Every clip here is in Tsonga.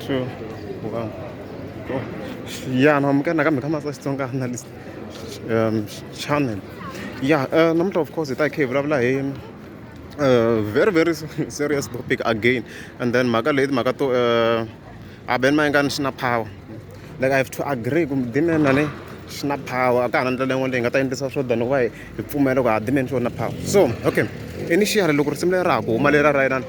true wow oh. ya no amukela nakambe ka masa xitsonga analyst um channel ya uh, namuntlha of course hi ta hi kha hi vulavula hi uh, very very serious topic again and then mhaka leyi timhaka to uh, abeni mayengani xi na power like i have to agree kumbe dimena le xi na power a ka ha na ndlela yin'wana leyi nga ta endlisa swo than wa hi pfumela ku ha dimeni xi na power so okay initially loko risimu leri ra ha ku huma lera ra yelana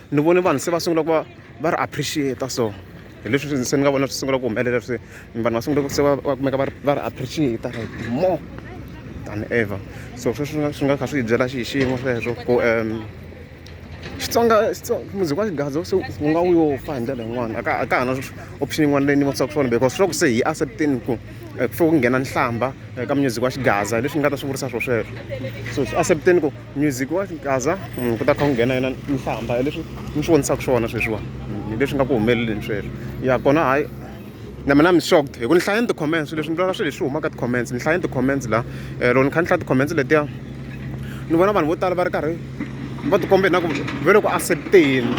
ni vone vanhu se va sungula ku va va ri appreciate so hi leswi se ni nga vona swi sungula ku humelela swi vanhu va sungula ku se va va kumeka va ri va ri appreciate like more than ever so sweswi swi nga swi nga kha swi hi byela xi xiyimo sweswo ku um xitsonga music wa xigadzo se u nga wu yo fa hi ndlela yin'wana a ka a ka ha na option yin'wana leyi ni vonisaka swona because swa ku se hi accepteni ku eh, ku fike ku nghena nhlamba eh, ka music wa xigaza hi leswi ni nga ta swi vurisa swo sweswo so swi accepteni ku music wa kaza mm, ku ta kha ku nghena yona nhlamba leswi mi swi vonisaka swona sweswiwa mm, leswi nga ku humeleleni sweswo ya kona hayi na mina mi shocked hi ku ni hlayeni ti-comments leswi ni vona swilo leswi humaka ti-comments ni hlayeni ti-comments la eh, loko ni kha ni hlaya ti-comments letiya ni vona vanhu vo tala va ri karhi va tikombe na ku ve le ku accepteni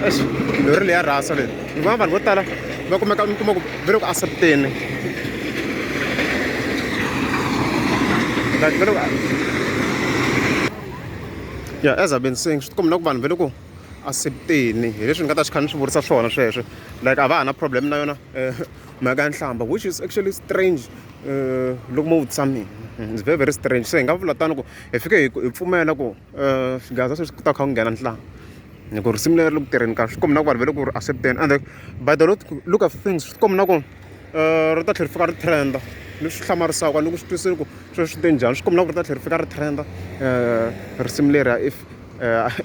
exi lori leya rasa leyi ni va vanhu vo tala va kumeka mi kuma ku ve loko asepteni like ve loko ya as a been saying swi tikombi na ku vanhu ve loko asepteni hi leswi ni nga ta swi kha ni swi vurisa swona sweswo like a va ha na problem na yona eh, mhaka ya nhlamba which is actually strange eh, loko mo vutisa mina it's very very strange se hi nga vula tani ku hi fike hi pfumela ku xigaza sweswi ku ta kha ku nghena ntlangu hi ku risimu leri ri le ku tirheni kahle swi komba na ku vanhu va le ku ri accept-eni ende by the look look of things swi komba na ku ri ta tlhela ri fika ri trend-a ni swi hlamarisaka ni ku swi twisisa ku sweswi swi te njhani swi komba na ku ri ta tlhela ri fika ri trend-a risimu leriya if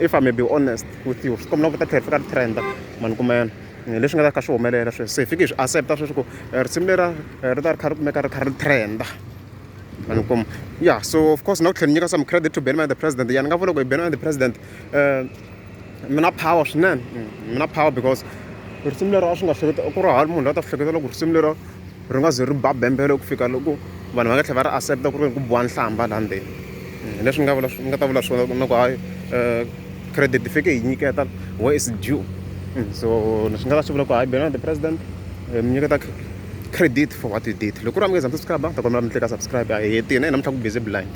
if I may be honest with you swi komba na ku ri ta tlhela ri fika ri trend-a ma ni kuma yena hi leswi nga ta kha swi humelela sweswi se hi fiki hi swi accept-a sweswi ku risimu leriya ri ta ri kha ri kumeka ri kha ri trend-a. vanhu komu ya so of course na ku tlhela ni nyika some credit to benman the president ya ni nga vula ku hi benman the president um mi na power swinene mi mm, na power because risimu lero a swi nga hleketa ku ri hali munhu la ta hleketa loko risimu lero ri nga ze ri ba bembele ku fika loko vanhu va nga tlhela va ri accepta ku ri ku biwa nhlamba laha ndzeni mm, leswi nga vula nga ta vula swona na ku hayi um credit fike hi nyiketa wa is due mm, so swi nga ta swi vula ku hayi benman the president eh, mi nyiketa credit for what you did loko ku ri a mi nge za mi subscribe ni ta kombela mi tleka subscribe a hi hetini namuntlha ku busy blind.